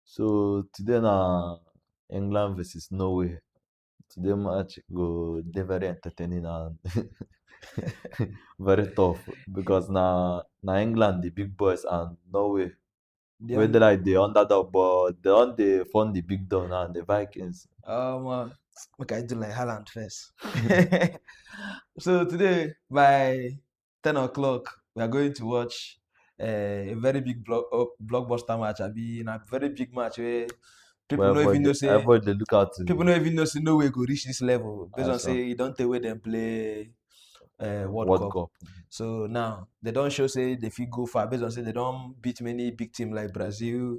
So today na England versus Norway. Today match go dey very entertaining and very tough because na na England the big boys and Norway They wey dey like the underdog but they don dey form the big dog now the Vikings. um, uh, make I do like Haaland first. so today, my 10 o'clock, we are going to watch uh, a very big block, uh, blockbuster match. I mean, a very big match where people well, don't even know say avoid the lookout. People don't even know say no way go reach this level. Based on say you don't take where them play uh, World, World Cup. Cup. So now they don't show say they feel go far based on say they don't beat many big team like Brazil,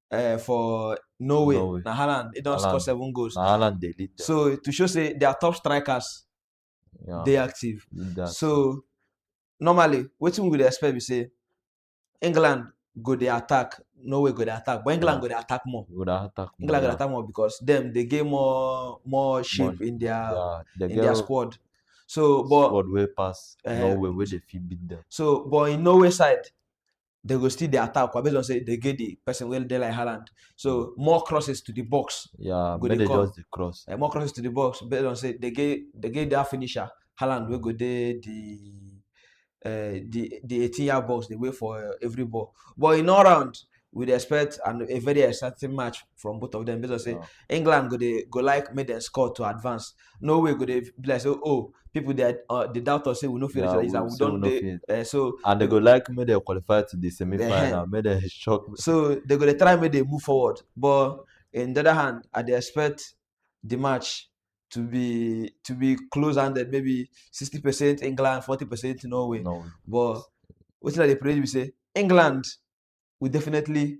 uh, for Norway, Norway. na Haaland, he don score seven goals. Na Haaland dey lead them. So to show say their top strikers yeah. dey active. Leader. So normally, wetin we dey expect be say England go dey attack, Norway go dey attack, but England yeah. go dey attack more. Go dey attack more. England yeah. go dey attack more because them dey get more more shape more, in their yeah, they in their squad. So, but squad way pass uh, Norway, where they fit beat them. So, but in Norway side, they go still dey attack kwa based on say they get the person wey dey like Haaland. So more crosses to the box, Yeah, Go make dey they come. just dey cross. eh, more crosses to the box based on say they get they get their finisher Haaland wey go dey the uh, the the 18 yard box dey wait for uh, every ball. But in all round, we dey expect an, a very exciting match from both of them based on say Yeah. England go dey go like make them score to advance. no way go dey be like say oh people dey uh, dey doubt us say we no fit reach yeah, like this and we don dey uh, so. and they go like make dem qualify to the semi final uh, eh. make dem shock. so they go dey try make dem move forward but in the other hand i dey expect the match to be to be close handed maybe sixty percent england forty percent norway. norway but wetin i dey pray be say england will definitely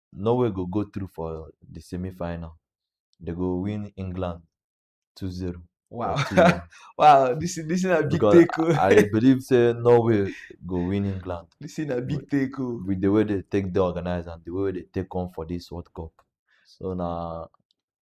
Norway go go through for the semi final. They go win England 2 0. Wow. wow, this is this is a big because take. Oh. I believe say Norway go win England. This is a big take. Oh. With the way they take the organizer and the way they take on for this World Cup. So now